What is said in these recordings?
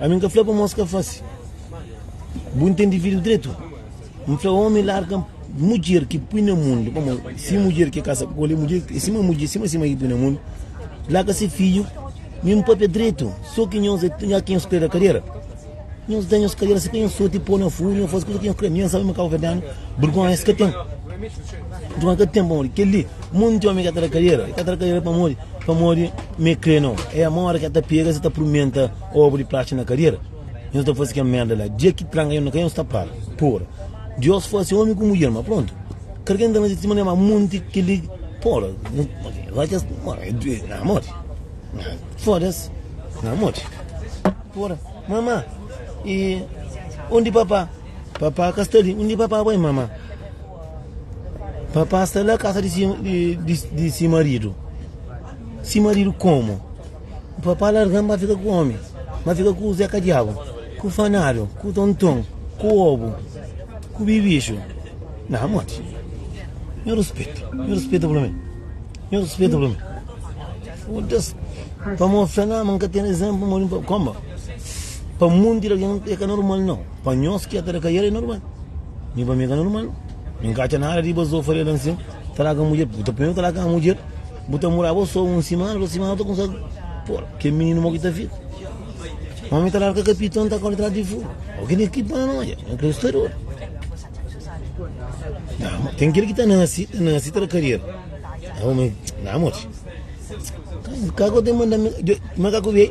Ami N ka fla pa mos ka fase. Bu ntende vidru dretu? N fla, omi larga mudjer ki pui na mundu, pamo, si mudjer ki kasa ku koli, mudjer, e sima mudjer, sima sima ki pui na mundu, larga si fiju, mi N papia dretu, so ki nhos, e nha ki nhos kreda kadera, nhos da nhos kadera, si ka nhos soti po na furu, nhos fasi kusa ki nhos kre, mi N sabe ma ka ba fla danu, burgonha es ka ten, burgonha ka ten, pamodi keli. Monti omi ka ta da kadera, e ka ta da kadera pamodi, pamodi me kre no. E ama ora ki e ta pega se ta purmenta obu di plachi na kadera. Yo no ta fasi kel merda la. Dia ki tranka yo na kai yo no sta para. Pora. Dios fasi omi ku mudjer, ma prontu. Karke no ta fasi di sima di ama monti kel li. Pora. Na modi. Fodas. Na modi. Pora. Mama, e undi papa? Papa ka sta li. Undi papa bai, mama? Rapaz ta la kasa di si, di, di, di si marido. Si marido como? Papá largam ba fica com homem. Ba fica com o Zeca Diabo, com o Fanário, com o Tonton, com o Obo, com o Bibicho. Não, mate. Me respeita, me respeita pelo menos. Me respeita pelo menos. Foda-se. Para mostrar, não, nunca tem exemplo, como? Para mundo, é que é normal, não. Pa nhos ki el ta da kaiada é normal. Mi pa mi ka normal. Mi n ka atxa nada di bazofa di algen sin. Ta da ken mudjer. Bu ta poi-m ta da ken mudjer. Bu ta mura bo so un simana, dôs simana bu ta kumsa pora. Kel mininu mo ki ta fika. Ma mi ta larga kapitla, n ta kore tras di furu. Ô kel ki bana na odja. Kel ki sta di odu. Nau. Ten kel ki ta nase, ta nase ta da kariera. Nau mi, nau moti. Ka ku ten manda mi. Djo, ma ka ku bia-i.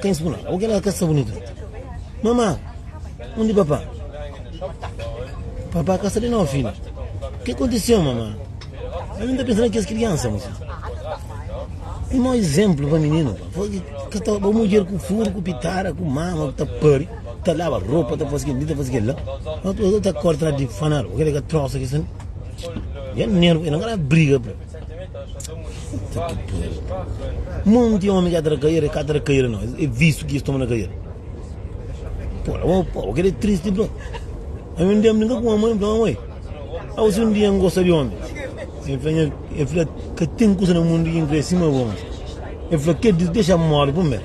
Ten si kunal. Oke la ka sta bunitu la. Mama, undi papa? Papa ka sta li no fidju. Ke kontiseu mama? Ami nta pensa na kes kriansa muse. Un mau izemplu pa mininu pa. Fo ki ka ta bo mudjer ku furu, ku pitara, ku mama ku ta pari, ta laba ropa, ta fasi kel li, ta fasi kel la. Oke la ka korta na di fanal. Oke la ka trosa ki sta. Jan nervu, e na ka na briga. Mon di omi ki ata na kaiera e ka ata na kaiera no, e vistu ki es toma na kaiera. Pô, la bo, pô, kede tristi bro. Ami un dia mi brinka ku ma mãe, fla mãe, au si un dia n gosta di omi. E fla, "Nha-" e fla, ka ten kusa na mundu ki n kre sima bo. E fla, kede, dexa-m mori primeru.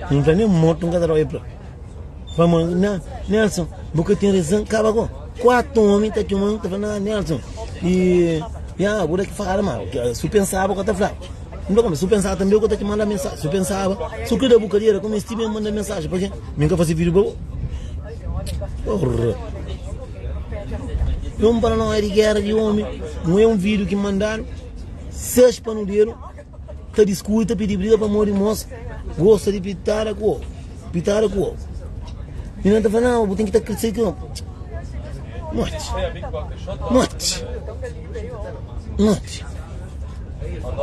Mi fla, nen mortu n ka ta da omi. Pamodi, na, Nelson, bu ka ten rezon, kaba ku. Kuatu omi ta txoma un, ta fla, na, Nelson, i, ya, bu da ki fala ma, si bu pensaba bu ka ta flaba. N fla, si bu pensaba tanbe bu ka ta ki manda mensaji, si bu pensaba, si bu kre da bu kariera ku mi, es ti ben manda mensaji, pake mi N ka fase vidiu pa bu. Porra! Jon paranoia di gera di omi, nu e un vidiu ki mandadu, ses panu dedu. Ta diskuti, ta pidi briga pamó di mos gosta di pitada ku ovu. Pitada ku ovu. I nan ta fla, Nau, bu ten ki ta krse ki ovu. Morti. Morti. Morti.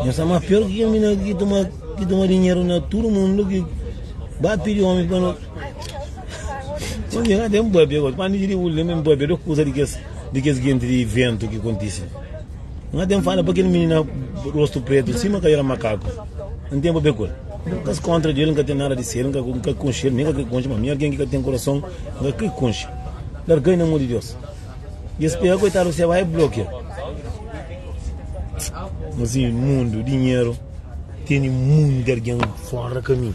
Nhos sta má pior ki mina ki toma, ki toma dinheru na tudu mundu ki ba pidi omi pa no. Mas nhos ka ten pâpia gosi. Pa mi, di bu lembra-m pâpia, dôs kuza di kes, di kes genti di ventu ki kontise. Nhos ten fala pa kel minina rostu pretu sima ka era makaku. N ten pa bekul. N ka skontra di el, N ka ten nada di sel, N ka, N ka konxe el, nen ka kre konxe, ma mi algen ki ka ten kurason, N ka kre konxe. Larga-i na mon di Dios. I es pega koitadu se bai e blokia. Mas i mundu, dinheru, tene munde algen fora kaminhu.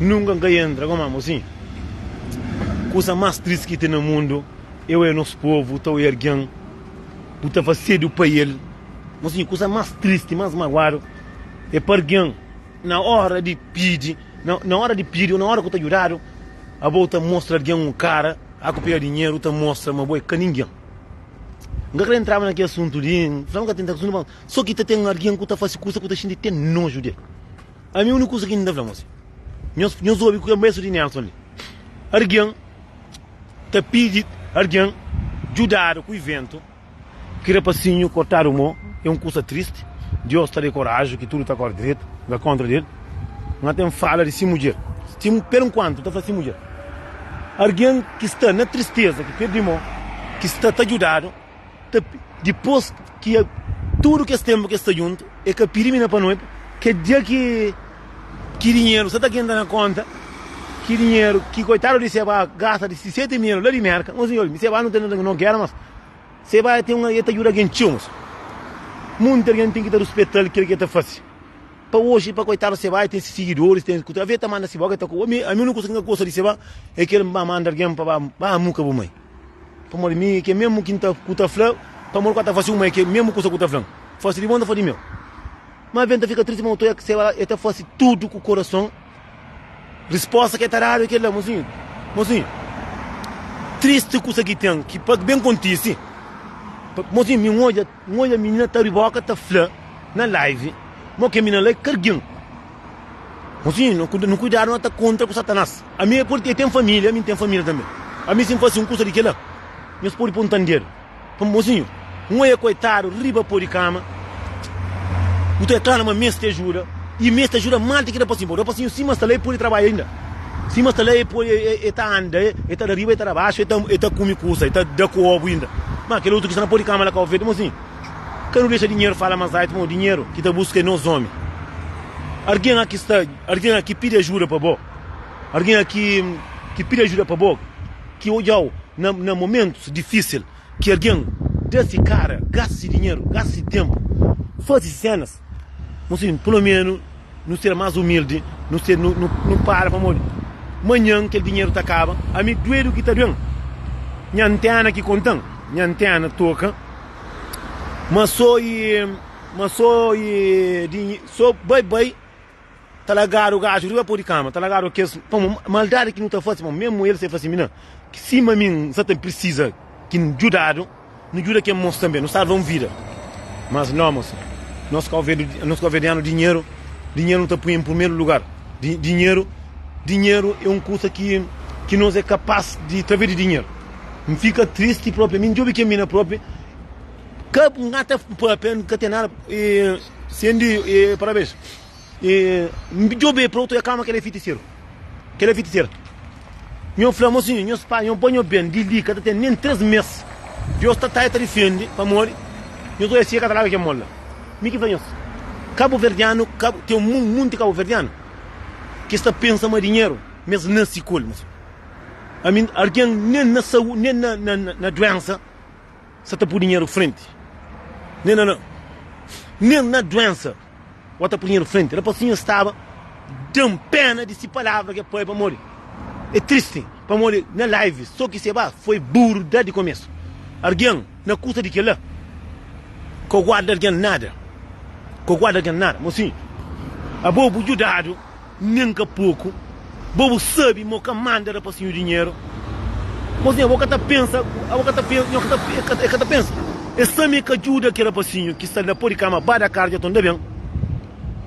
Nunka N ka entra ku mamo sin Kusa mas tristi ki ten na mundu Eu e nos povu ta oi argen Bu ta fas sedu pa el Mo sin kusa mas tristi mas maguadu E pa argen na ora di pidi Na ora di pidi o na ora ku ta judadu Abo ta mostra argen un kara A ku pega dinheru ta mostra ma bo e ka ningen N ka kre entraba na ki asuntu li N fla ma ka tenta Só ki ta ten argen ku ta fasi kusa ku ta xinti te noju di el. Ami úniku kuza ki N ta fla mos é, nhos obi ku kel maestru di Nelson li, Algen ta pidi algen djudadu ku iventu ki rapasinhu kortadu mô é un kuza tristi, Diós ta da-l koraji ki tudu ta kóre dretu. Na kóntra di el, N ka ten fala di si mudjer, per nkuantu, N ta fla si mudjer, Algen ki sta na tristeza ki pirdi mô, ki sta ta djudadu. Dipôs ki tudu kes ténpu ki es sta djuntu, el ka pidi mi na panoiba. Kel dia ki dinheru sa ta kenta na kónta, ki dinheru ki koitadu di Sebá gasta di si seti mil la di Mérka, nhos inxó-l. Mi Sebá nu ten algen ki nu kera, mas Sebá el ta djuda algen txeu. Mas munti algen ten ki ta ruspeta-l kel ki el ta faze. Pa oji, pa koitadu Sebá, el ten se sigidoris. Talvês el ta manda si bo, kel ta kuba. Ami úniku kuza ki N ka gosta di Sebá é ki el ba manda algen pa ba amuka bu mai. Pamodi mi ke mesmu ki ta, ku ta fla, pamodi kua ta fasi uma e ke mesmu kusa ku ta flan. Fasi di bon ta fasi di meu. Ma ben ta fika tristi ma otu ex se ba e ta fasi tudu ku korason. Resposta ke ta dadu e kel la, Mozinhu, mozinhu, tristi kusa ki ten ki pa ben kontisi. Mozinhu, mi n odja. N odja minina ta riboka ta fla na live ma ok minina la é kargen ma si nu kuidadu na ta kontra ku satanas ami é podi el ten familia ami ten familia tanbe ami si N fasi un kusa di kila nhos podi poi N ta ndedu pamodi mosinhu N oia koitadu riba po di kama bu ta klama ma meste ajuda i meste ajuda mal ti ki rapasinhu bo rapasinhu sima sta la el podi trabadja inda. Sima sta la, e ta anda, e ta da riba, e ta da baxu, e ta kumi kusa, e ta da ku obu inda. Ma kel otu ki sta na po di kama la ka ovedu, mo sin, ka nu dexa dinheru fala ma azaitu, mo dinheru ki ta buska e nos omi. Argin aki sta, argin aki pidi ajuda pa bo, argin aki ki pidi ajuda pa bo, ki odjau na momentus difisil. Ki algen da si kara, gasta si dinheru, gasta si tenpu, fazi si senas, mon senhu, pulomenu nu ser mas umildi, nu ser, nu, nu, nu para pamodi manhan kel dinheru ta kaba, ami duedu ki ta duen, nha antena ki kontan, nha antena toka, ma so e, ma so e, so bai-bai. Ta lagadu gaju riba po di kama, ta lagadu kes maldadi ki nu ta fase, pamodi mésmu el sai fla sinbi, Nan, sima mi N sta ta pirsisa ki N djudadu, nu djuda kel mosu tanbê, nu salva un vida. Mas nau, mosu, nos kauvérdianu dinheru, dinheru nu ta pui en purmeru lugar. Dinheru, dinheru é un kusa ki ki nos é kapas di través di dinheru. N fika tristi propi, ami N djobi kel mina propi, ka N ka ta papia, N ka ten nada, e sen di parabéns. N djobe pa otu, e klama, Kel é fitiseru! Kel é fitiseru! Nho fla, Mo sinhu, nhos pai, nho bo, nho ben, di li ka ta ten nen três mês, Deus ta ta e ta difende, pamodi nho ta oia si e ka ta laga kel mon la. Mi ki fla nhos, Kabuverdianu, ten un monti kabuverdianu ki sta pensa ma dinheru ma es nase ku el. Mo sinhu, ami, algen nen na saúdi, nen na duensa. Sa ta pui dinheru frenti nen na na nen na duensa wa ta pui dinheru frenti na pa sinhor staba dan pena di si palavra ke pai pamodi e tristi pamodi na live so ki se ba foi buru da di komesu argen na kusa di kila ko guarda argen nada ko guarda argen nada mo si abo bu judadu. Nen ka poku. Bo bu sabi ma o ka manda rapasinhu dinheru. Mozinha bo ka ta pensa, bo ka ta pensa, nho ka ta, e ka, e ka ta pensa. E sa me ka djuda ki rapasinhu ki sta na po di kama ba da karu dja tonda ben.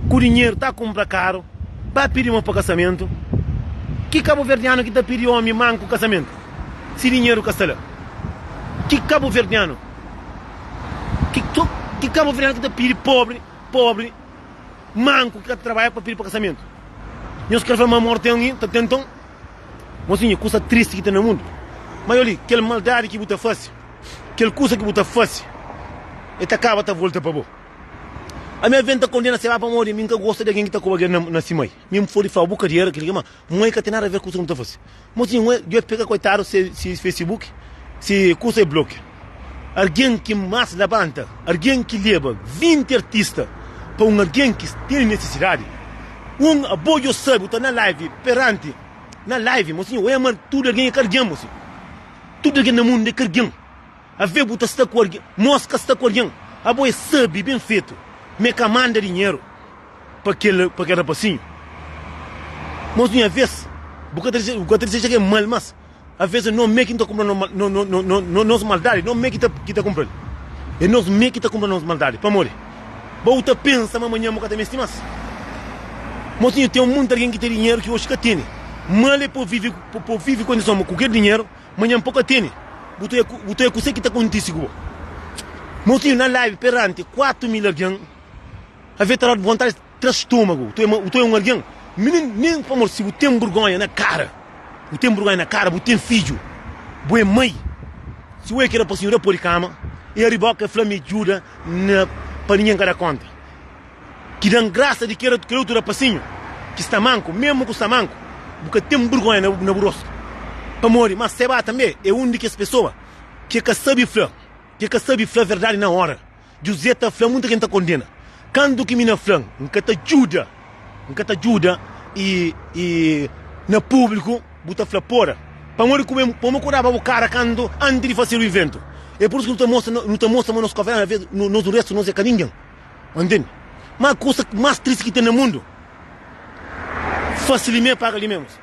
Ku dinheru ta kunpra karu, ba pidi ma pa kasamentu. Ki kabuverdianu ki ta pidi omi manku kasamentu si dinheru ka sta la? Ki kabuverdianu, ki, ki kabuverdianu ki ta pidi pobri, pobri. Manku ki ka ta trabadja pa pidi pa kasamento. Nhos kre fla ma amor ten alguin ta tenton. Mosinha, kusa tristi ki ten na mundu. Ma yo li, kel maldadi ki bu ta fase, kel kusa ki bu ta fase, e ta kaba ta volta pa bo. Ami aven ta kondena Seba pamodi mi n ka gosta di algin ki ta koba algin na si mai. Mi n podi fla bu ka di era kel ki, ma mai ka ten nada aver ku kusa ki nu ta fase. Mozinho ué, djobe pega koitadu se se facebook se kusa e blokia argen ki mas labanta argen ki leba 20 artista pa un argen ki tene nesisidadi un abo djo sabi bu ta na live perante na live mozinho ué ma tudu argen e kargen mozinho tudu argen na mundu e kargen ave bu ta sta ku argen mos ka sta ku argen abo e sabi ben fetu me ka manda dinheru pa kel pa kel rapasinhu mos nha vez bu ka ta dexe bu ka ta desexa kel mal mas avês é nos mê ki ta kunpra nos mal nos nos nos nos nos maldadi nos mê ki ta ki ta kunpra el é nos mê ki ta kunpra nos maldadi pamodi ba bu ta pensa ma manhan bu ka ta meste mas mos nha ten monti algen ki ten dinheru ki oxi ka tene mal el po vive po po vive kondison ma ku kel dinheru manhan po ka tene bu ta ê bu ta ê kusé ki ta kontise ku bo mos nha na live peranti kuatu mil algen. Avê ta da-u vontadi di tra stômagu. Tu é, tu é un algen? Minin, nin pamodi si bu ten burgonha na kara. Bu ten burgonha na kara, bu ten fidju, bu é mai. Si ue ke da pasinhu, da pô di kama. E ariba oca e fla mi djuda na pa ningen ka da konta. Ki dan grasa di kera, kera otu da pasinhu ki sta manku. Mesmu ku sta manku, bu ka ten burgonha na bu rostu. Pamodi ma se ba tanbe é un di kes pesoa ke ka sabi fla, ke ka sabi fla verdadi na ora. Juzé ta fla, Muita gen ta kondena. Kandu ki mi na fla, N ka ta djuda, N ka ta djuda, i, i na públiku bu ta fla, Pora! Pamodi ku ben pô-m kuraba bu kara kandu, antis di fasedu ivéntu. É pur isu ki nu ta mostra, nu ta mostra ma nos kavera, na vês, nos nu restu nos é ka ningen. Ntende? Má kusa ki más tristi ki ten na mundu, fase limé paga limé, mosi.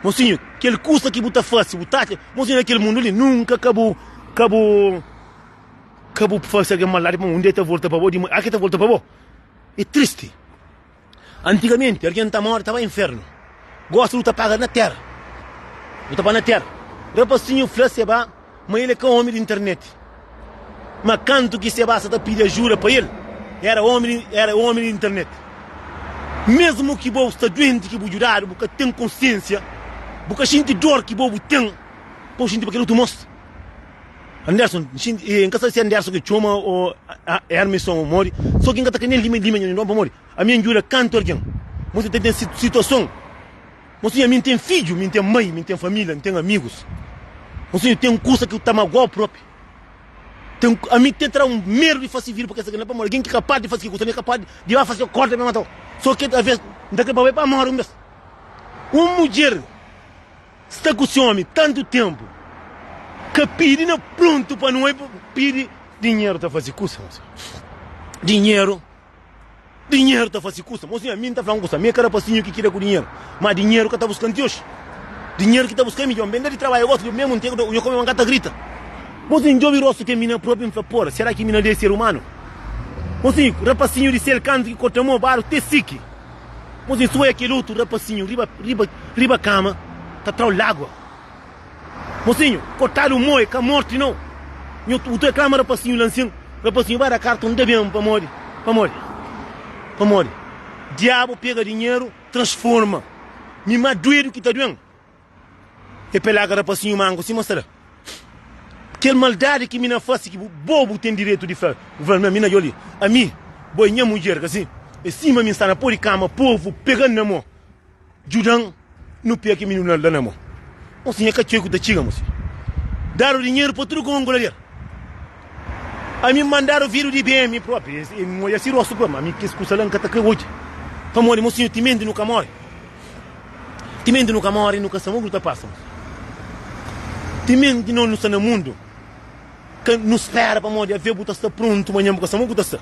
Mosinhu, kel kusa ki bu ta fase, bu ta atxa, mosinhu, na kel mundu li, nunka ka bu, ka bu. Ka bu fase algen maldadi pamodi un dia el ta volta pa bo, di manha ki el ta volta pa bo. É tristi. Antigamenti, algen ta móre ta bai inférnu. Gósi bu ta paga na Téra. Bu ta bai na Téra. Rapasinhu fla Sebá ma el é ka ómi di internet. Má kantu ki Sebá sta ta pidi ajuda pa el, éra ómi di, éra ómi di internet. Mésmu ki bo sta duenti ki bu djudadu, bu ka ten konsiénsia, bu ka xinti dór ki bo bu ten pa bu xinti pa kel otu. Mos. Anderson, N xinti, e N ka sabe si é Anderson ki txoma ô é Armison ô modi, sô ki N ka ta kre nen lima lima nha nidon pamodi ami é N djuda kantu algen. Mos ta ten situason N sunha mi N ten fidju, mi N ten mai, mi N ten família, N ten amigus. N sunha ten kusa ki ta magoa-u propi. Ten, ami ten tra un medu di fase vida pa kes algen la pamodi algen ki kapaz di fase kel kusa li é kapaz di ba fase korta pa mata-u. Sô ki alvês N ta kre pa bai pa mori un bes. Un mudjer. Sta ku si omi tantu tempu ka pidi na prontu pa nu oi pa pidi. Dinheru ta fasi kusa mo sinha. Dinheru dinheru ta fasi kusa mo sinha mi nta fla un kusa mi ka rapasinhu ki kida ku dinheru ma dinheru ka ta buskan ti oxi dinheru ki ta buska mi djon ben da di trabadja gosi djon memu nte ku nha komi ma nka ta grita mo sinha ndjobi rostu ke mi na propi nfla por sera ki mi na de ser umanu mo sinha rapasinhu di sel kantu ki kota mo baru te siki. Mos es oi kel otu rapasinhu riba riba riba kama ta trau lagua. Mosinhu, kotadu un moi ka morti nau. Nhu u toi klama rapasinhu la nsin. Rapasinhu ba da karton da ben pamodi pamodi pamodi diabu pega dinheru transforma mi ma duedu ki ta duen. E pelaga rapasinhu manku si mostra Kel maldadi ki mi na fase ki bu Bo bu ten diretu di fla Bu fla na mi na Joli Ami bo e nha mudjer kasi E sima mi sta na po di kama Povu pegan na mo Djudan nu pega ki mininu na la na mo Mosi nha ka txeu ku ta txiga mosi Dadu dinheru pa tudu kongo la der Ami mandadu vidu di ben mi propi E modja si rostu pa ma mi kes kusa la N ka ta kre odja Pamodi mosinhu timenti nu ka more. Timenti nu ka móre, nu ka sta mógru ta pasa. Timenti nos nu sta na mundu, ka nu spera pamodi avê bu ta sta prontu manhan bu ka sta mógru ta sta.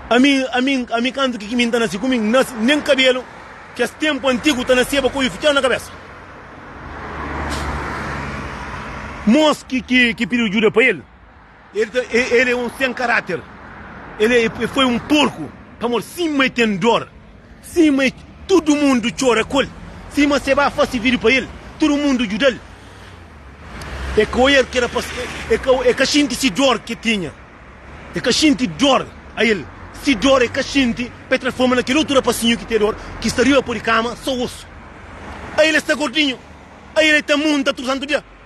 Ami, ami, ami kantu ki ki mi ta nase ku mi n nase nen kabelu kes tenpu antigu ta naseba ku oju fitxadu na kabesa. Mos ki ki ki pidi djuda pa el. El ta el é un sen karater el é el foi un porku pamod sima el ten dor sima el tudu mundu txora ku el sima se ba fase vidu pa el tudu mundu djuda el el ka oier ki era pa el ka el ka xinti si dor ke tinha el ka xinti dor a el si dor el ka xinti pa el transforma na kel otu rapasinhu ki te dor ki sta riba po di kama so osu ai el sta gordinhu ai el ta munta tudu santu dia.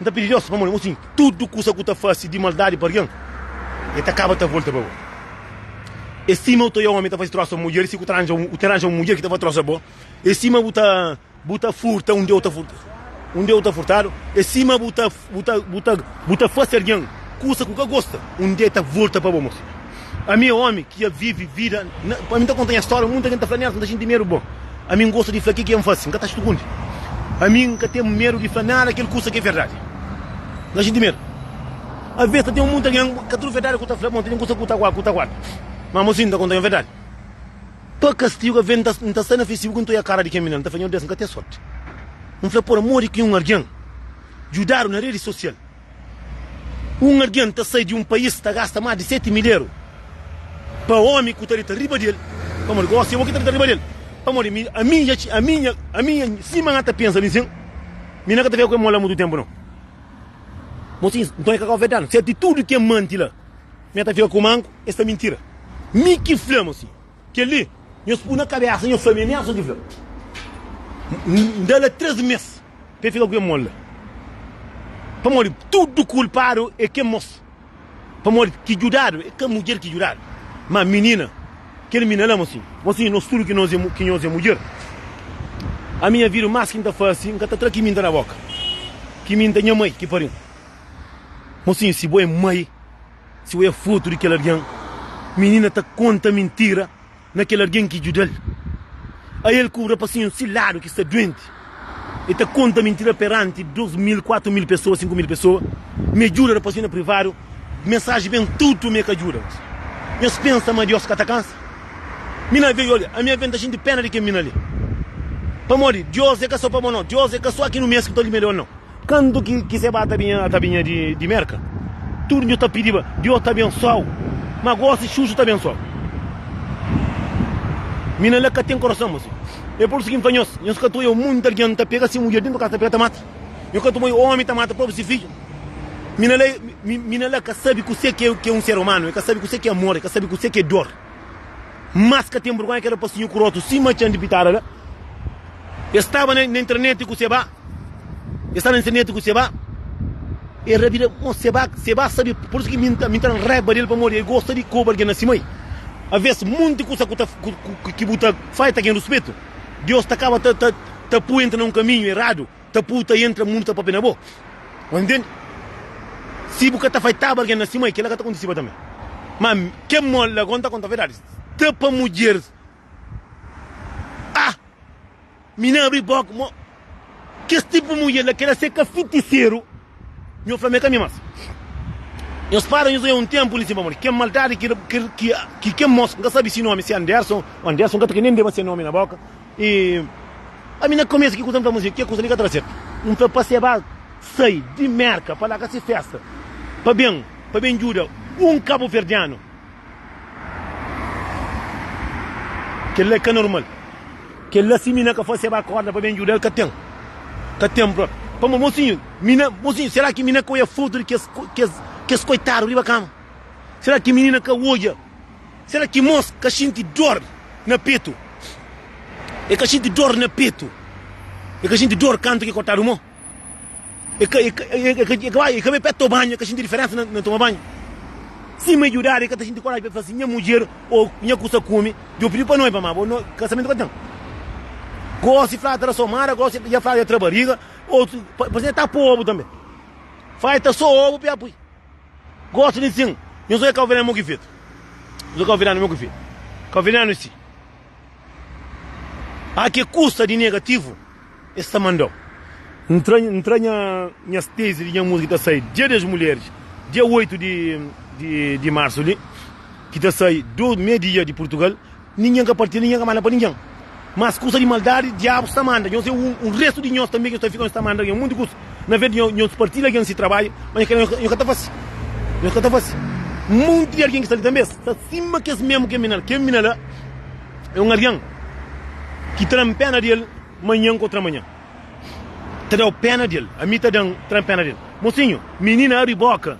N ta pidi Deus pamodi N konxi tudu kusa ku ta fase di maldadi pa algen, el ta kaba ta volta pa bo. El sima bu ta oja un omi ta fase trosa un mudjer, si ku ta ranja un, u ta ranja un mudjer ki ta fase trosa bo. El sima bu ta, bu ta furta undi eu ta furta, undi eu ta furtadu. El sima bu ta, bu ta, bu ta, bu ta fase algen kusa ku ka gosta, un dia el ta volta pa bo. Ami é ómi ki dja vive vida na. Ami n ta konta nha stória, munta ki n ta fla nel, si n ta xinti medu. Bon, ami n gosta di fla kel ki N fase, n ka ta stukundi. Ami n ka ten medu di fla nada kel kusa ki é verdadi. N ka xinti medu. Alvês ta ten un monti di algen, ka tudu verdadi ki bu ta fla, bon, ta ten kusa ki bu ta guarda. Má amô, si N ta konta nha verdadi, pa kastigu ka ben. N ta sta na Facebook, N ta oja kara di kel minera, N ta fla, Nhordes, N ka ten sórti. N fla, Pur amor di ki un algen djudadu na redi sosial. Un algen ta sai di un pais, ta gasta más di seti mil eru pa ómi ku ta deta riba di el. Pamodi gosi é bo ki ta deta riba di el? Pamodi mi, ami dja txi, ami nha, ami nha, sima nha ta pensa mi sin, mi na ka ta fika ku el mola mutu ténpu nau. Bo siñi, nton é ka kau verdadi? Sértu di tudu ki N mante la, mi na ta fika ku manku? Es ta mintira. Mi ki fla, mo siñi. Kel-li, nhos pô na kabésa nha família, nha son ki fla. N da la três mês pa el fika ku kel mon la. Pamodi tudu kulpadu é kel mos, pamodi ki djudadu é kel mudjer ki djudadu. Má minina, kel minina la mosin, mosin, nos tudu ki nhos é mudjer, ami nha vida más ki N ta fase, N ka ta tra kiminta na bóka, kiminta nha mai ki pari-m. Mosin, si bo é mai. Si bu é fotu di kel algen, minina ta konta mintira na kel algen ki djuda-l. A El kubra pa sinhus si ladu ki sta duenti. El ta konta mintira peranti dos mil, kuatu mil pesoa, sinku mil pesoa. Mi é djuda rapazinhu na privadu, mensaji ben tutu mi é ka djuda. Mi es pensa ma Dios ka ta kansa. Mi na ve, olia, ami aven ta xinti pena di kel minina li. Pamodi Dios é ka so pa bo, nau. Dios é ka so aki nu mes ki ta limia di ol, nau. Kandu ki se ba ta binha, ta binha di Merka, tudu nhu ta pidiba Diós ta abensoau, ma gósi Xuxu ta abensoau mi. Na la ka ten korason ma si. É pur isu ki N fla nhos, nhos ka ta oiau munti algen ta pega si mudjer dentu kasa ta pega ta mata? Nhos ka ta oiau ómi ta mata propi si fidju? Mi na la, mi na la ka sabe kuse ki é un ser umanu, e ka sabe kuse ki é amor, e ka sabe kuse ki é dor. Mas ka ten burgonha keda pasinhu kurotu sima txan di pitada la. E staba na internet ku se ba. E sta na internet ku Seba, e rabida mo Seba, Seba sabe por isso ki mi mi ta raiba del pamodi e gosta di koba algin na sima i. Aves monti kusa ku ta ki bu ta fai ta gen ruspetu, Deus ta kaba ta ta pui entra na un kaminhu eradu, ta pui ta entra mundu ta papia na bo. Bu intendi? Si bu ka ta fai taba algin na sima i kila ka ta kontisiba tambi. Ma ke mo la gon ta konta verdadi, sta pa mudjeris ah! Mi na abri boka mo kes tipu di mudjer la ki ela seka fitiseru nho fla ma e ka mi mas nho spada nho zaiau un tempu li si pamodi ken maldadi ki ken mos nka sabi si nomi si anderson o anderson nka ta ke nen deba se nomi na boka i ami na komesu ki kusa nfla ma ke kusa li ka ta da sertu nfla pa se ba sai di merka pa larga si festa pa ben pa ben djuda un kabuverdianu. Kel-la é ka normal. Kel-la, si mi na ka fase-l akorda pa ben djuda-l, ka ten. Ka ten bro. Pamodi, mosinhu, mi na. Mosinhu, sera ki mi na ka odja fotu di kes, kes, kes koitadu riba kama? Sera ki minina ka odja? Sera ki mos ka xinti dor na petu? E ka xinti dor na petu? E ka xinti dor kantu ki kortadu mo? E ka, e ka, e ka, e ka bai, e ka bai pé to banhu, e ka xinti diferensa na, na toma banhu. Sima e judadu, e ka ta xinti koraji pa el fla si, Nha mudjer, ô nha kusa kume, djo pidi pa noiba, má bo no, kasamentu ka ten. Gósi fla tra so mara, gósi dja fla dja tra bariga, ô pa, parse nha ta pô obu tanbe. Fla dja ta so obu pa el pui. Gósi di nsin, nhos oja kau-venenu mo ki fetu. Nhos oja kau-venenu mo ki fetu. Kau-venenu si. A ke kusta di negativu e sta manda-u? N tra, n tra nha, nhas tezi di nha múzika ki ta sai Dia des Mulheris, dia 8 di, di, di marsu li, ki ta sai du media di Purtugal, ningen ka partilha, ningen ka manda pa ningen. Mas kusta di maldadi, Diabu sta manda nhos, e un restu di nhos tanbe ki nhos ta fika, nhos ta manda algen. Monti kusta. Na vez di nhos partilha algen si trabadju, ma kel la nhos ka ta fase. Nhos ka ta fase. Monti di algen ki sta li tanbe sta sima kes memu kel mina la. Kel mina la é un algen ki tranpena di el manhan ku otramanhan. Ta da-u pena di el. Ami ta da-m tranpena di el. Mosinhu, minina abri boka,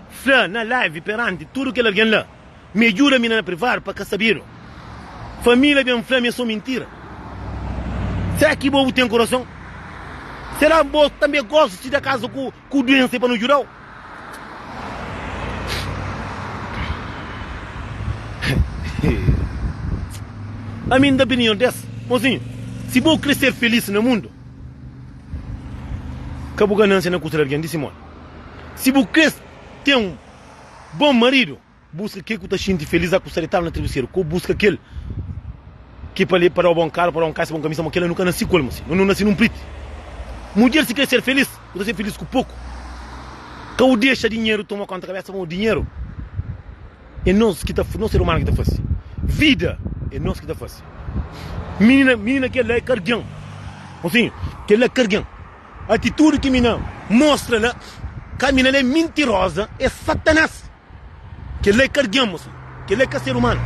fla na live peranti tudu kel algen la. Mi é djuda mi na privadu pa ka sabedu Família ben fla mi é so mintira Sera ki bo bu ten kurason? Sera bo tanbe gosta txi da kaza ku duensa e pa nu djudau? Ami n da opinion des Mozinhu, si bo kre ser felis na mundu Ka bu ganansia na kusa di algen, di si modi Si bu kre ten Bon maridu, buska kel ku ta xinti felis a kusta di taba na tribuseru, ko buska kel ki pa le pa da-u bon karu, pa da-u un kasa, bon kamisa, ma kel-la nu ka nasi ku el, masi nu nasi nun priti. Mudjer si krê ser felis, bu ta ser felis ku poku. Ka u dexa dinheru toma konta kabesa bo, dinheru e nos ki ta, nos ser umanu ki ta fase, vida e nos ki ta fase. Minina, minina kel-la e kargen, mosinhu, kel-la kargen. Atitudi ki mi na mostra la, ka mi na la é mintiroza, é Satanás. Kel la é kargen-mo si. Kel la é ka ser umanu.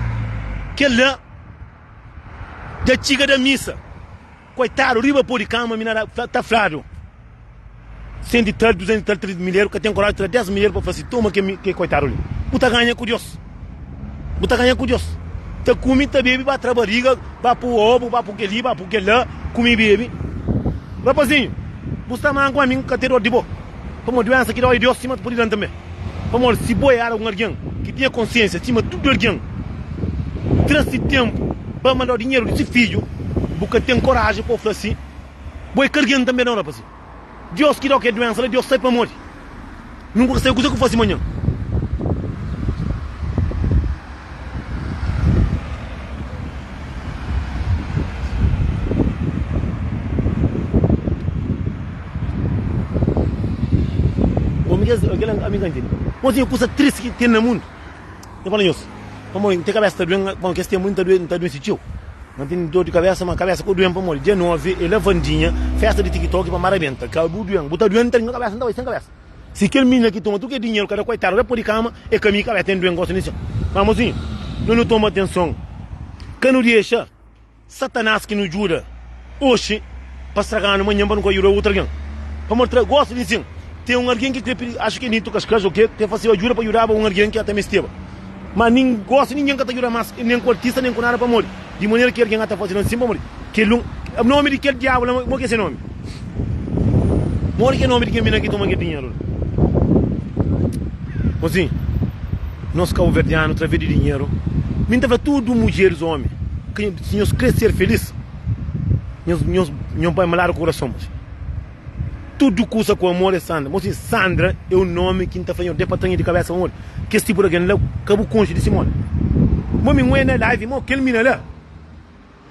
Kel la dja txiga da misa. Koitadu, riba pó di kama mi na da tafladu. Sen di tra-l, duzentu di tra-l, três di milheru, ka ten koraji di tra-l dés milheru pa fla si, Toma kel koitadu li. Bu ta ganha ku Deus. Bu ta ganha ku Deus. Ta kumi, ta bebe, ba tra bariga, ba pu obu, ba pu keli, ba pu kela, kumi bebe. Rapazinho, bu sta manku ma mi n ka ten dor di bo. Pamodi duensa ki dói Deus sima ta pudi dan tanbe. Pamodi si bo é algun algen ki tinha konsiensia sima tudu algen, tra si tenpu pa mandau dinheru di si fidju, bu ka ten koraji pa bo fla si bo é ki algen tanbe nau rapazinho. Diós ki da-u kel duénsa la, Diós sai pamodi nu ka sabe kuzê ku fase manhan. Kel ami ka ntende. Má, ten kuza tristi ki ten na mundu. N fla nhos, pamodi N ten kabésa ta due-m, pamodi kes ténpu li N ta duense txeu. Má N ten dór di kabésa, má kabésa ka due-m, pamodi dia 9 é Lavandinha, fésta di TikTok, pa Mara benta. Ka bu due-m, bu ta due-m tanbê, nha kabésa N ta bai sen kabésa. Si kel minina ki toma tudu kel dinheru kada koitadu bai pô di kama, é ka mi ki kabésa ten due-m, gosi di txeu. Má, mozinhu, nu nu toma atenson, ka nu dexa. Satanás ki nu djuda oxi pa straganu manhan pa nu ka djuda otu algen. Pamodi tra gosi di insin, ten un algen ki krê pidi axa ki el niti kas kaxa o ke, krê faseba djuda pa djudaba un algen ki ata mesteba. Má nin gosi ningen ka ta djuda más nen ku artista nen ku nada pamodi di manera ki algen ata faze-l ansin pamodi kel un. Nomi di kel diabu la, mo ki é se nomi? Modi ki é nomi di ken bina ki toma kel dinheru la? Konsi nos kabuverdianu través di dinheru mi ta fla tudu mudjeris omi ki si nhos kre ser felis nhos nhos nhos bai maladu kurason mos tudu kusa ku amor é sandra mos sandra é un nomi ki ta fla nhos de pa tanha di kabesa pamodi kes tipu di algen la ka bu konxi di si modi mo mi ngoi na live mo kel mina la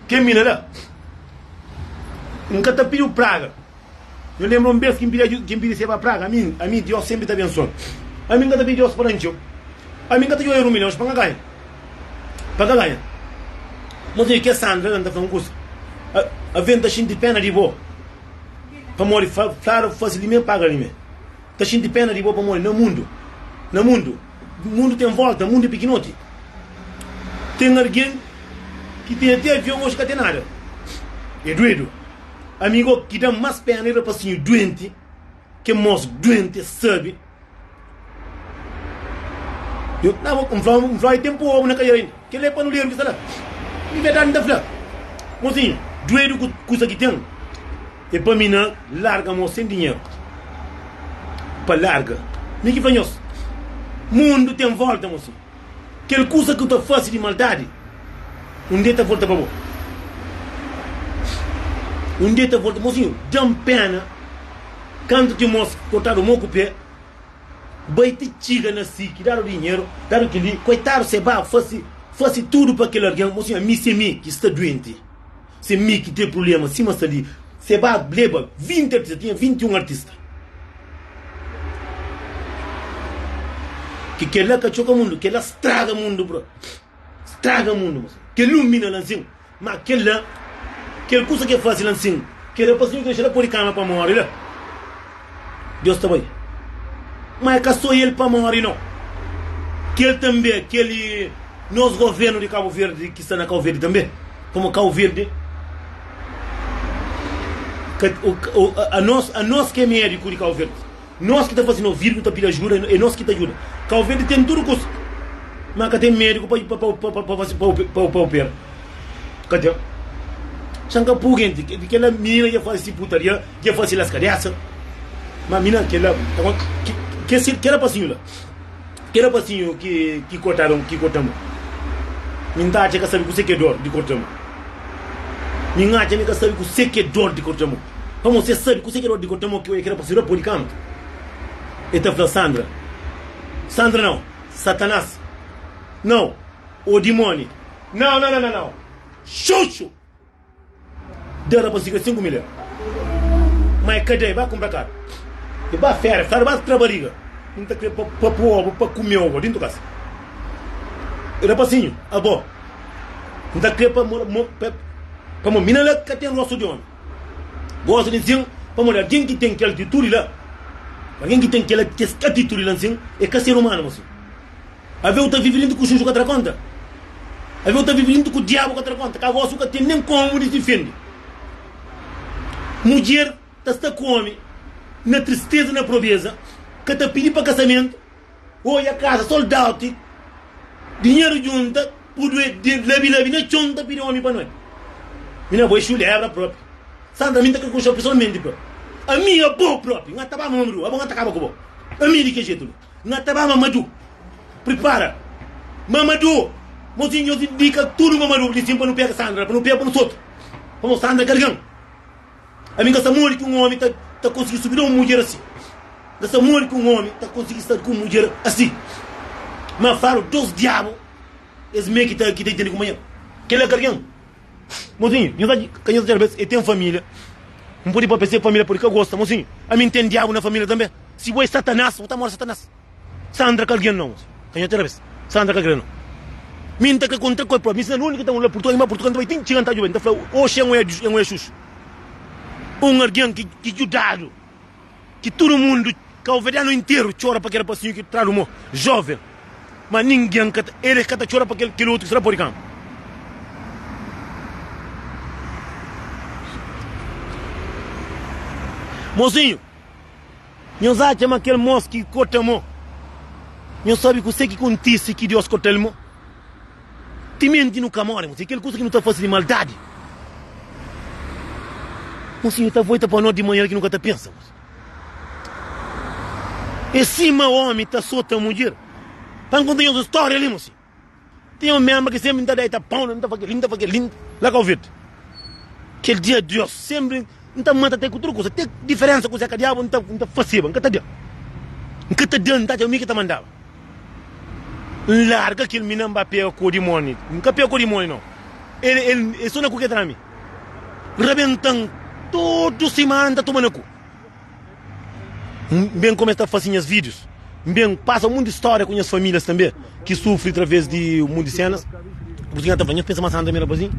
Termina la. N ka ta pidi-u praga. Nhos lenbra un bês ki N pidi a Djo, ki N pidi Seba praga? Ami, ami, Diós sénpri ta abensua-l. Ami N ka ta pidi Diós pa da-m txeu. Ami N ka ta djobe erus milhons pa N ka ganha, pa N ka ganha. Nhos odja kes Sandra la, N ta fla-u un kusa, a, avé N ta xinti péna di bo pamodi Fla, Flávia fasil dimé, paga limé. N ta xinti péna di bo pamodi na mundu, na mundu. Mundu ten volta, mundu é pikinoti. Ten argen ki ten ati avion oji ka ten nada. É duedu. Amigo, ki da-m mas pena é rapasinhu duenti, ke mos duenti es sabi. Yo, na bo, N fla-u, N fla-u é tenpu obu na kadiera inda. Kel-li é pa nu lé nu fla, Di verdadi N ta fla, mozinhu duedu ku kusa ki ten, é pa mi na larga mô sen dinheru pa larga. Mi ki fla nhos, mundu ten volta, mozinhu. Kel kusa ki bu ta fase di maldadi, un dia ta volta pa bo. Un dia ta volta. Mozinhu, da-m péna kantu Timóti kortadu mô ku pé. Bai ti txiga na si ki dadu dinheru, dadu kel-li. Koitadu, se ba fase, fase tudu pa kel algen. Mo sinhor, mi se mi ki sta duenti, se mi ki ten prubléma sima sta li. Se ba leba vinti artista, tinha vinti i un artista. Ki kel-la ka txoka mundu, kel-la straga mundu, bro. Straga mundu nsin. Ke lumina la nsin. Ma kel la, kel kusa ke fase la nsin. Ke rapazinhu ke dexa la podi kama pa mori la. Deus ta bai. Ma e ka so el pa mori no. Kel tambe kel nos govenu di Kabu Verdi ki sta na Kau Verdi tambe. Pamo Kau Verdi ka, o, o, a nos, a nos ke mediku di Kau Verdi. Nos ki ta fase no virgu ta pida ajuda e nos ki ta djuda. Kauverde ten tudu kusa, ma ka ten mediku pa opera. Ka ten. San ka puu kenti. Kela minina dja fase putaria, dja fase las kadesa. Ma mina kela, kela pasiñu la. Kel rapazinhu ki kortadu, ki korta-m Mi n'ta atxa ka sabe kuse k'é dor di korta-m Mi n'atxa mi ka sabe kuse k'é dor di korta-m Pamodi si es sabe kuse k'é dor di korta-m Oki, oia kel rapazinhu dja pode kanta El ta fla Sandra, Sandra nau, Satanás nau, o dimoni nau, nau, nau, nau, nau, xuxu! Da rapaziga sinku milha. Ma e kadei ba kunpra kar. E ba fera, fera ba tra bariga. N ta kre pa pa pua oba, pa kume oba dintu kas. Rapazinhu, abo, N ta kre pa mo mo pa pa mo mina la ka ten rostu di omi. Gosi di nsin pamodi algin ki ten kel atitudi la, algin ki ten kel kes atitudi la nsin e ka ser umanu mo si. Ave u ta vivi lintu ku xuxu ka tra konta? Ave u ta vivi lintu ku diabu ka tra konta? Ka gosi u ka tene nen komu di difende. Mudjer ta sta ku omi na tristeza, na probeza, ka ta pidi pa kasamentu, oja kasa sold out, dinheru djunta, pudu e de labi labi na txon ta pidi omi pa noi. Mi na bo e xulebra propi. Sandra mi nta ka konxeo pesoalmenti propi. Ami, abo propi, n'ga ta ba ma mabri bo, abo n'ga ta kaba ku bo. Ami di ke jetu li. Na ta ba Mamadou pripara Mamadou mozinho nhos indica tudo Mamadou di sim pa nu pega Sandra pa nu pega pa nu solta pamo Sandra gargan ami nga sa modi ki um omi ta ta konsigi subi da um mudjer assim nga sa modi ki um omi ta konsigi sta ku um mudjer assim ma falo dos diabo es mê ki ta ki ta intende kuma nha kela gargan. Mozinhu, nhos acha ka nhos dja bes e ten família? N pode pâpia se família pode ka gosta. Mozinhu, ami N ten diabu na família tanbê. Si bo é Satanás, bo ta mora Satanás. Sandra ka algen nau, mozinhu. Ka nhos dja bes. Sandra ka kre-l nau. Mi N ta kre kontra ku el própi. Mi sina Luni ki ta un la Purtugal, mi ba Purtugal, N ta bai ti N txiga N ta djuba-l. N ta fla-l, Oxi, N oi N oi é xuxu. Un algen ki djudadu. ki tudu mundu kauverianu interu txora pa kel pasinhu ki tradu mo joven ma ningen ka ta eles ka ta txora pa kel kel otu ki sta na pori kama mozinhu nhos atxa ma kel mos ki kota mo nhos sabi kuse ki kontise ki dios kotel mo Timenti nu ka móre, mon siñor, kel kuza ki nu ta fase di maldadi, mon siñor, ta volta pa nos di manera ki nu ka ta pensa, mon siñor. É sima ómi ta sota mudjer. Ta N konta nhos un stória li, mon siñor. Tinha un ménbra ki sénpri N ta da-i tapau, N ta fla kel-li, N ta fla kel-li, la ka ovi-l. Kel dia Diós sénpri N ta mata te ku tudu kuza. Te diferensa ku Zeka Diabu N ta, N ta faseba, N ka ta da. N ka ta da, N ta atxa mi ki ta mandaba. N larga kel mina, N ba pega ku dimoni. N ka pega ku dimoni no. El, el, el so na ku ke ta na mi. Rabentan tudu simana N ta tuma na ku. N ben koma es ta fase nhas vídius. N ben pasa monti di stória ku nhas famílias tanbê ki sufri através di monti di sénas. Pur isu nhos ta fla, Nhos pensa ma Santo Amigo era abasin?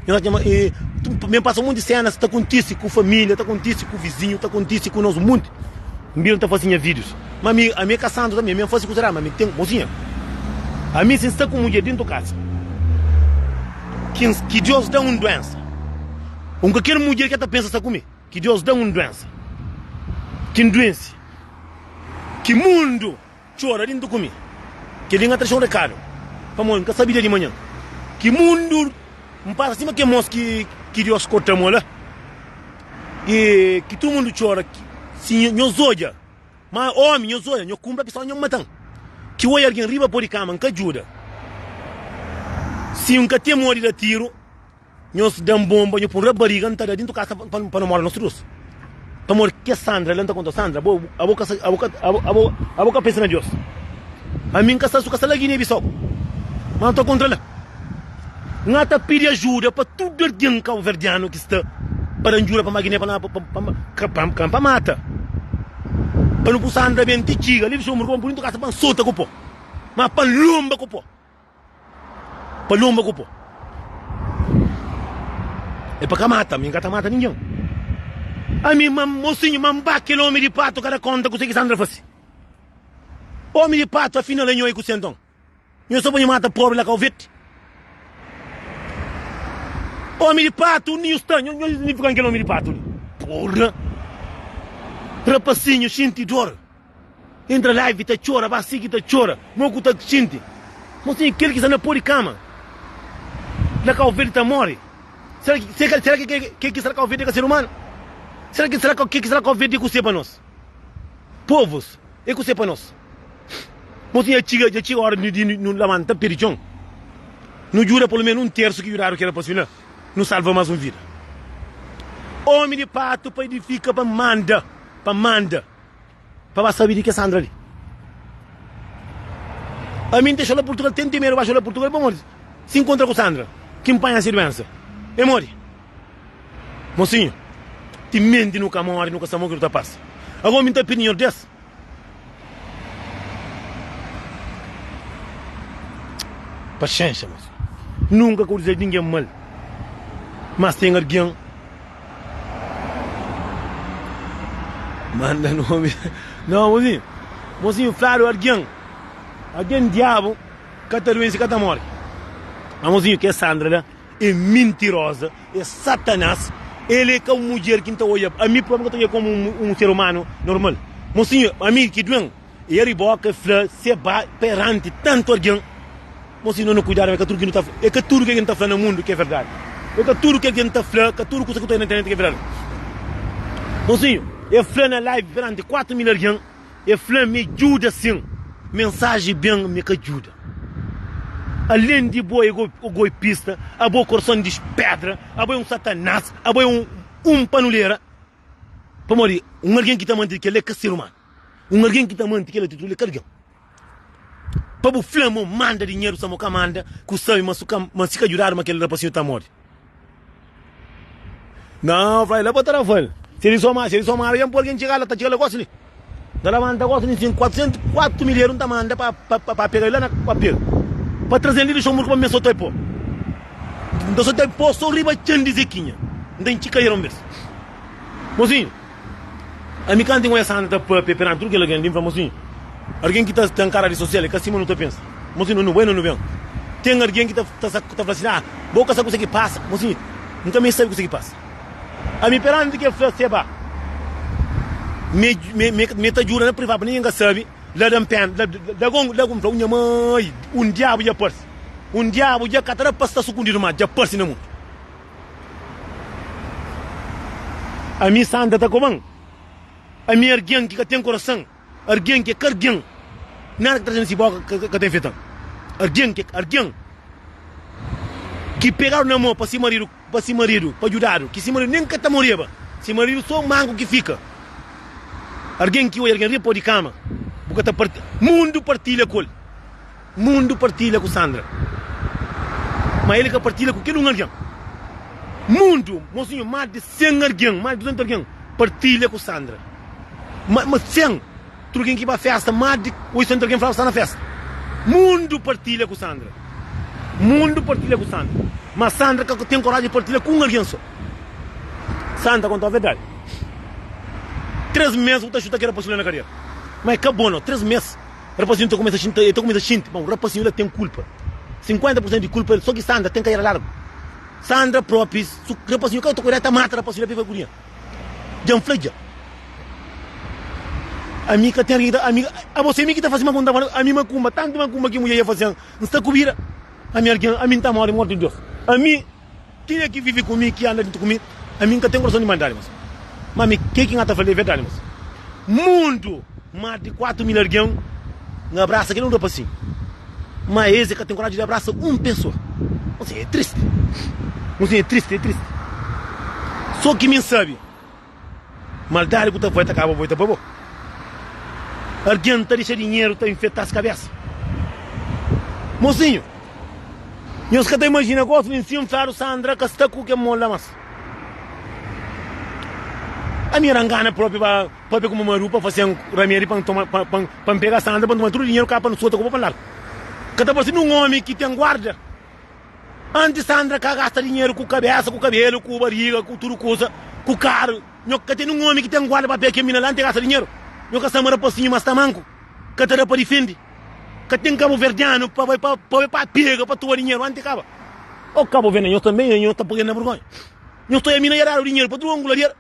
Nhos atxa ma e N ben pasa monti di sénas ta kontise ku família, ta kontise ku vizinhu, ta kontise ku nos monti. N bira, N ta fase nha vídius. Ma ami, ami é ka santu tanbê. Ami N fase kusa eradu, ma ami ten mozinha. Ami, si N sta ku mudjer déntu kasa ki N, ki Deus da-m un duénsa, un ka kel mudjer ki el ta pensa sta ku mi. Ki Deus da un duensa ki N duensi, ki mundu txora di N ta kume. Kel-li N atraxa un rekadu pamodi N ka sabe dia di manhan. Ki mundu N pasa sima kemons ki Deus korta mo la i ki tudu mundu txora. Si nhos odja ma ómi, nhos odja nho kunpra ki só nho mata-m. Ki odja algen riba po di kama, N ka djuda. Si N ka ten modi da tiru. Nhos da-m bonba, nho pô-m rabariga, N ta da dintu kasa pa nu mora nos trus Pamodi ki kes Sandra la N ta konta-u Sandra, abo abo ka sa abo ka abo abo ka pensa na Dios Ami N ka sta su ka sta la Guiné Bissau Mas N ta kontra la N ta pidi ajuda pa tudu algen kauverdianu ki sta pa da-m djuda pa ma Guiné pa na ka pa ka N pa mata Pa nu pô Sandra ben ti txiga li N dixou-m roba pa dintu kasa pa N sota ku po Mas pa N lonba ku po Paloma ku po. É pa ka mata, mi n ka ta mata ningen. Ami ma n mosinhu, ma n ba kel omi di patu ka da konta kuse ki Sandra fase. Omi di patu afinal é nho, i kuse nton? Nho sta bo nhu mata pobri la kau veti. Omi di patu undi nhu sta? Nho nhu nifikan kel omi di patu li. Porra! Rapasinhu xinti dor, Intra live ta txora ba sigi ta txora mo ku ta xinti mo sin kel ki sta na po di kama na kau verde ta mori sera ki sera sera ki ke ki sta na kau verde e ka ser umanu sera ki sera ke ki sta na kau verde e ku se pa nos povus e ku se pa nos mo sin ja txiga ja txiga ora di di nu lamanta pedi txon nu djuda polu menu un tersu ki djudadu ki era pa si na nu salva mas un vida omi di patu pa idifika pa manda pa manda. Pa ba sabi di kes Sandra li. Ami N ta xola Purtugal tenti medu ba xola Purtugal pamodi si N kontra ku Sandra ki N panha si duensa e mori Mosinhu ti menti nu ka mori nu ka sta mo ki nu ta pasa agomi N ta pidi nhor des paxenxa Mosinhu nunka ka o dizedu di ningen mal mas ten argen Manda nomi Nau mozinhu Mozinhu fladu argen Argen diabu Ka ta duense ka ta mori Ma mozinhu ke Sandra la e mintiroza e satanas El e ka un mudjer ki N ta odja ami propi N ka ta odja komu un ser umanu normal Mozinhu ami ki duen. E el riboka e fla, Se ba peranti tantu algen, mo si no na kuidadu, ma e ka tudu ki no ta fla, e ka tudu kel ki no ta fla na mundu ki é verdadi, e ka tudu kel ki no ta fla, ka tudu kusa ki ta oi na internet ki é verdadi. Bonzinhu, e fla na live peranti kuatu mil algen, e fla, Mi djuda sin, mensaji ben, mi ka djuda. Alen di bo é goipista, abo korson di pedra, abo é un satanás, abo é un un panulera, pamodi un algen ki ta mantidi kel-la é ka ser umanu. Un algen ki ta manti kel atitudi li é ka algen pa bu fla ma o manda dinheru sima o ka manda, ki o sabe ma si ka djudadu ma kel rapasinhu ta móre. Nau, fla el, el pa ta lava-l. Si el soma, si el soma algen pa algen txega la, ta txiga la gosi li. N ta laba-l, N ta gosi li sim, kuatrisentu, kuatu mil eru N ta manda pa pa pega-l la na papel, pa traze-l li Luxenburgu pa mi meste sota-l pó. N ta sota-l pó so riba txon di Zekinha. N ta intxi kadeira un bês. Mozinhu! Ami kantu ingoia Santa ta papia peranti tudu kel algen li, N fla ma si algen ki ta nkara redi sosial é ka sima nu ta pensa. Ma si nu bai na Luven, ten algen ki ta fla si, Ah, bo ka sabe kuse ki pasa. Ma si N ka meste sabe kuse ki pasa. Ami peranti kel fla se ba, mi ta djuda na privadu pa ningen ka sabe, la da-m pena. Lagu N fla ku nha mai, Un diabu dja parse. Un diabu dja ka ta da pa sta sukundidu más, dja parse na mundu. Ami santa ta koban. Ami argen ki ka ten korasan. Argen ki é kargen. Nada ki traze na si boka ka ta infetan. Argen ki é argen. Ki pegadu na mo pa si maridu, pa si maridu, pa djudadu. Ki si maridu nen ka ta moreba. Si maridu so manku ki fika. Argen ki odja argen riba pa o di kama. Bu ka ta parti. Mundu partilha ku el. Mundu partilha ku Sandra, má el ka partilha ku kel un algen. Mundu, mon sinhor, más di 100 algen, más di 200 algen partilha ku Sandra. Má, má 100, tudu algen ki ba fésta, más di 800 algen falaba sta na fésta. Mundu partilha ku Sandra. Mundu partilha ku Sandra, má Sandra ka ten koraji di partilha ku un algen sô. Sandra ta konta-u verdadi, Três mês bu ta xuta kel rapaxi la na kadera, má el ka bo nau. Três mês! Rapazinhu ta kumesa xinti, el ta kumesa xinti ma un rapazinhu la ten kulpa, 50 pursentu di kulpa el, so ki Sandra ten karera largu. Sandra propi, si rapazinhu ka ta kuidadu el ta mata rapazinhu la p'el fika ku dinheru. Dja N fla dja, ami ka ten algin ki ta, ami, abo se mi ki ta fasi mal ku N ta fala, ami makumba, tantu makumba ki mulher dja fasi ami, N sta ku bira, ami algin, ami N ta mori morti di Deus, ami. Ken é ki vive ku mi, ki anda dentro ku mi, ami nka ten korason di maldadi mas. Ma ami ke ki nha ta fale é verdadi mas. Mundu, mas di 4 mil argen nha abrasa kel un rapasinhu ma es é ka ten koraji di abrasa un pesoa. Nsin é tristi, nsin é tristi, é tristi. So ki mi nsabe. Maldadi ku ta voi ta kaba voi ta ba bo. Argen ta dixa dinheru ta infetas kabesa. Mosinhu, nhos ka ta imajina gos nin sin fladu Sandra ka sta ku ken mola mas. Ami era ngana propi ba papia ku mamadu pa fasen ramedi pa ntoma pa pa pa npega Sandra pa ntoma tudu dinheru ka pa nsota ku bo pa nlargu. Ka ta base nun omi ki ten guarda. Antis Sandra ka gasta dinheru ku kabesa, ku kabelu, ku bariga, ku tudu kusa, ku karu. Nho ka tene un omi ki ten guarda papia kel mina la, N te gasta dinheru. Nho ka sta ma rapasinhu ma sta manku, ka ta da pa difende. Ka ten kabuverdianu pa bai pa bai pa pega pa tuba dinheru anti kaba. O kabuverdianu, nho tanbe nho ta pagel na burgonha. Nho sta oia mina ya dadu dinheru pa tudu angularier.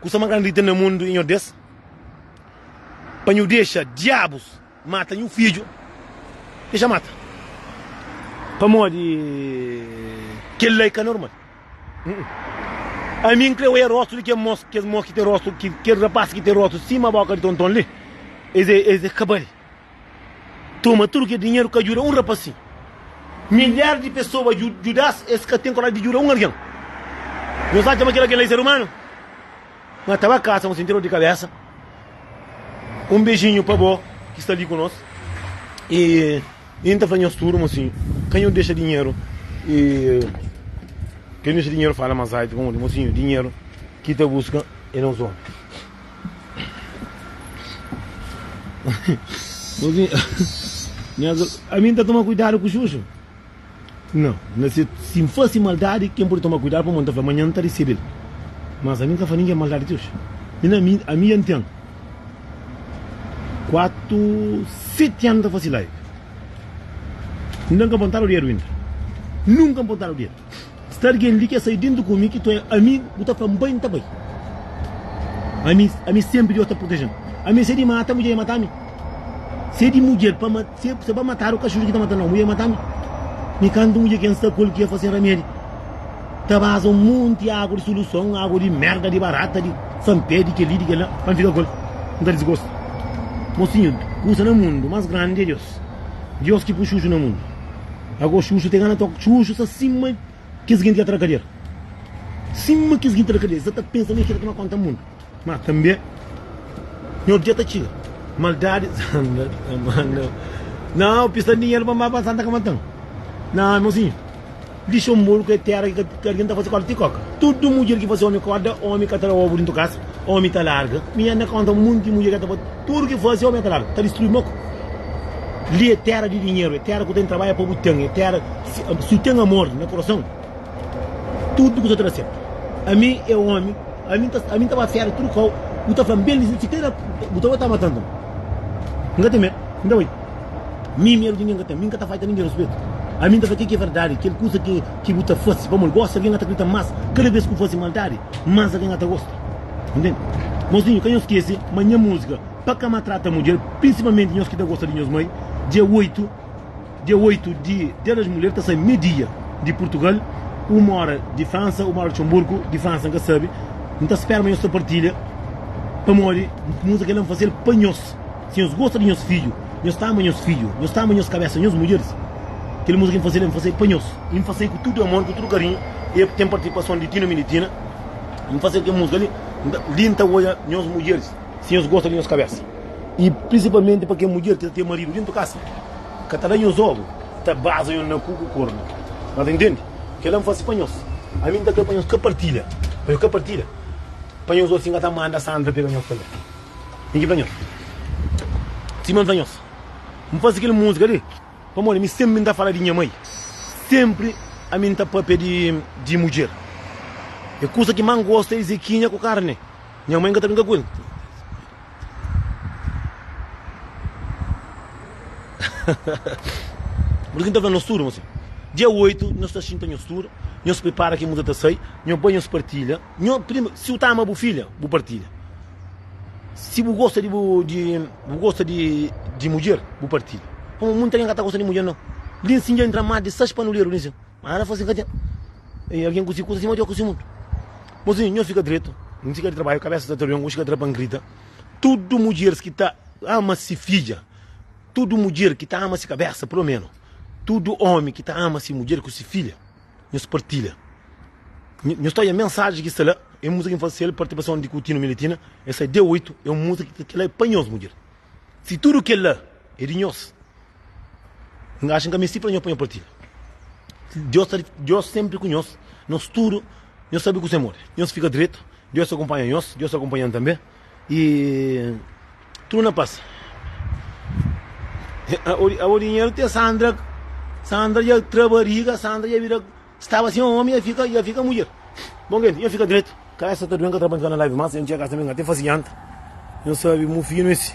Kusa más grandi ki ten na mundu i nho des, pa nho dexa diabus mata nho fidju, dexa mata, pamodi kel la i ka normal. Ami N kre oia rostu di kes mos, kes mos ki ten rostu, kes rapás ki ten rostu sima boka di tonton li, es é, es é kabali. Toma tudu kel dinheru ka djuda un rapasin. Milhar di pesoa djudas es ka ten koraji di djuda un algen. Nhos atxa ma kel algen la é ser umanu? Nha ta ba kasa nhos interior di kabesa. Un bejinhu pa bo ki sta li ku nos. E N ta fla nhos tudu ma si kanhu dexa dinheru e kanhu dexa dinheru fala ma zaitu pa modi mosinhu dinheru ki ta buska é nos omi. Ami n ta toma kuidadu ku xuxu? Nau. Na se, si N fase maldadi, ken pode toma kuidadu? Pamodi N ta fla, Manhan N ta resebe-l. Mas ami N ka fla ningen maldadi ti oji. Mi na mi, ami dja N ten kuatu, seti anu ta fase live. N dja N ka pontadu dedu inda. Nunka N pontadu dedu. Sta algen li ki sai dentu ku mi ki tu é amigu bu ta fla-m bai nta bai ami ami senpri Dios ta proteje-m ami se di mata mudjer mata mi se di mudjer pa se se ba matadu kaxudu ki ta mata nau mudjer mata mi mi kantu mudjer ki N sta ku el ki a fase ramedi ta baza un monti agu di soluson agu di merda di barata di sanpé di keli di kela pa N fika ku el N ta disgosta mosinhu kusa na mundu mas grandi é Dios Dios ki pui xuxu na mundu. Ago xuxu te gana tok. Xuxu sa sima kes genti ki atra kadier. Sima kes genti ki atra kadier. Sa ta pensa ma e kila ki ma konta mundu. Ma tambe nha otu dia ta txiga. Maldadi sanda ta manda. Nau pista dinheru pa mba pa Santa ka matan. Nau, irmonzinhu. Luxemburgo é téra ki ka algen ta fase kóda ti kóka. Tudu mudjer ki fase ómi kóda, ómi ka tra obu dentu kasa, ómi ta larga. Mi N na konta monti mudjer ki ka ta fase tudu ki fase, ómi ka ta larga, ta distrui mô ku. Li é téra di dinheru, é téra ku ten trabadja pa bu ten, é téra si bu ten amor na kurason, tudu kusa ta da sertu. Ami é ómi, ami ami N ta ba féra tudu kau, bu ta fla-m ben li, si ten, bu ta bai ta mata-m, N ka ten medu, N ta bai. Mi meru di ningen ka ten. Mi N ka ta faita ningen respetu. Ami N ta fla kel ki é verdadi, kel kuza ki bu ta fase pamodi gosi algen a ta kridita más. Kada bes ki bu fase maldadi, más algen a ta gosta. Ntende? Mozinhu, ka nhos skese ma nha múzika pa ka maltrata mudjer, prinsipalmenti nhos ki ta gosta di nhos mai. Dia 8, dia 8 di Dia das Mulher ta sai me-dia di Purtugal, uma óra di Fransa, uma óra di Luxemburgo, di Fransa N ka sabe. N ta spera ma nhos ta partilha pamodi múzika kel-la N fase-l pa nhos. Si nhos gosta di nhos fidju, nhos ta ama nhos fidju, nhos ta ama nhos kabésa, nhos mudjeris. Kel muza ki N faze la, N faze-l pa nhos. N faze-l ku tudu amor, ku tudu karinhu, i é ku ten partisipason di Tino Militina N faze-l kel muza li. Li N ta odja nhos mudjeris, si nhos gosta di nhos kabésa, i prinsipalmenti pa kel mudjer ki ta ten maridu déntu kasa, ka ta da nhos ovu, ta baza nhos na ku ku kornu. Nhos ta intende? Kel-la N faze pa nhos. Ami N ta krê pa nhos ka partilha, pa nhos ka partilha, pa nhos osi N ka ta manda Sandra pega nhos tanbê. Nen ki blanhof Sima un blanhof N faze kel múzika li Pamodi mi sénpri N ta fala di nha mai Sénpri ami N ta pâpia di mudjer E kusa ki más N gosta é Izekinha ku karne Nha mai N ka ta brinka ku el Pur ki N ta fla nos tudu ma se Dia 8 nhos ta xinta nhos tudu Nhos pripara ki múzika ta sai Nho bai nhos partilha. Nho prima, si bu ta ama bu fidja, bu partilha. Si bu gosta di bu di bu gosta di di mudjer, bu partilha. Kuma munti algen ka ta gosta di mudjer no. Linsin dja intra mas di sais panuleru linsin. Mas ana fala sin ka ten e algen ku si kusa sima djoku si mundu. Mozinho nho fika dretu, n chika di trabaju kabesa ta trabia ngu chika tra pa n grita. Tudu mudjeris ki ta ama si fidja, tudu mudjer ki ta ama si kabesa pulomenu, tudu omi ki ta ama si mudjer ku si fidja. Nhos partilha. Nhos ta oia mensaji ki sta la, e múzika ki N fase sel, partipason di Kutino Miletina, el sai dia 8, e un múzika ki kela é pa nhos mudjer. Si tudu kela é di nhos, N axa N ka mesti fla nhos pa nhos partilha. Diós ta Diós senpri ku nhos, nos tudu nhos sabe kuse modi. Nhos fika dretu, Diós ta akunpanha nhos, Diós ta akunpanha-m tanbe. E tudu na pas. Abo dinheru te Sandra, Sandra dja tra bariga, Sandra dja bira, staba sen omi dja fika, dja fika mudjer. Bom gente, dja fika dretu. Kabesa ta dui, nka tra pa nka na live mas, dja nka sa mi nka te fasi janta. Nho sabi mu finu esi.